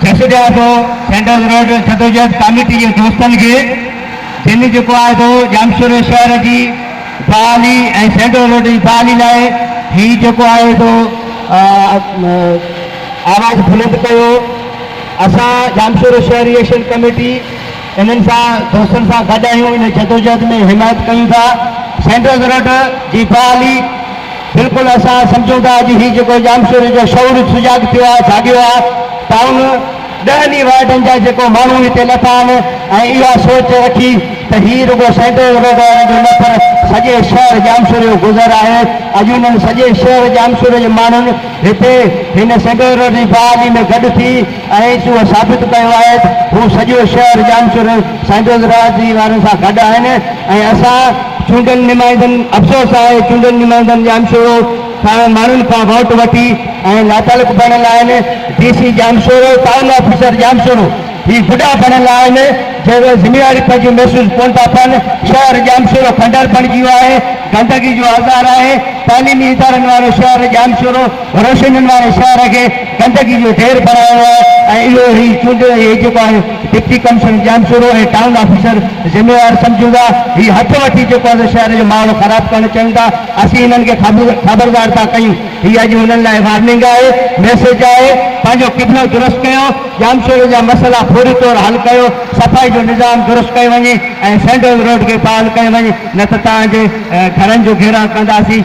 جس جي آهي سو سينڊرز روڊ جدوجهد ڪاميٽي جي دوستن کي جن جيڪو آهي سو ڄامشوري شهر جي بحالي ۽ سينڊرز روڊ جي بحالي لاء هي جيڪو آهي سو آواز بلند ڪيو اسان ڄامشوري شهر ايشن ڪاميٽي انهن سان دوستن سان گڏ آهيون ان جدوجهد ۾ حمايت ڪيون ٿا سينڊرز رڊ جي فعالي بلڪل اسان سمجهون ٿا اڄ هي جيڪو ڄامشوري جو شعور سجاڳ ٿيو آهي جاڳيو آهي ٽائون ڏهن ئي وارڊن جا جيڪو ماڻهو هتي لٿا آهن ۽ اها سوچ رکي ته هي رڳو سينڊرز رڊ وارن جو نه پر سڄي شهر ڄامشوري جو گذر آهي اڄ انهن سڄي شهر ڄامشوري جي ماڻهن هتي هن سينڊرز رڊ جي فعالي ۾ گڏ ٿي ائين چون هو ثابت ڪيو آهي ته هو سڄو شهر ڄامشورو سائنڊوز راء جي وارن سان گڏ آهن ۽ اسان چونڊيل نمائندن افسوس آهي چونڊيل نمائندن ڄامشورو کان ماڻهن کان ووٽ وٺي ۽ لاتعلق بڻيل آهن D C Jamshoro town officer Jamshoro هي گڊا بڻيل آهن جنهن ۾ ذميواري پنهنجي محسوس ڪونه ٿا ڪن شهر ڄامشورو کنڊر بڻجي ويو آهي گندگي جو آزار آهي تعليمي ادارن وارو شهر ڄامشورو روشنين واري شهر کي گندگي جو ڍير بڻايو آهي ۽ اهو هي چونڊيل اهي جيڪو آهي deputy commissioner Jamshoro ۽ town officer ذميوار سمجهون ٿا هي هٿ وٺي جيڪو آهي سو شهر جو ماحول خراب ڪرڻ چاهيون ٿا اسين هنن کي خبردار ٿا ڪيون هي اڄ هنن لاء وارننگ آهي ميسيج آهي پنهنجو قبلو درست ڪيو ڄامشورو جا مسئلا فوري طور حل ڪيو صفائي جو نظام درست ڪيو وڃي ۽ سينڊول روڊ کي بحال ڪيو وڃي نه ته توهان جي گهرن جو گهيراء ڪنداسين.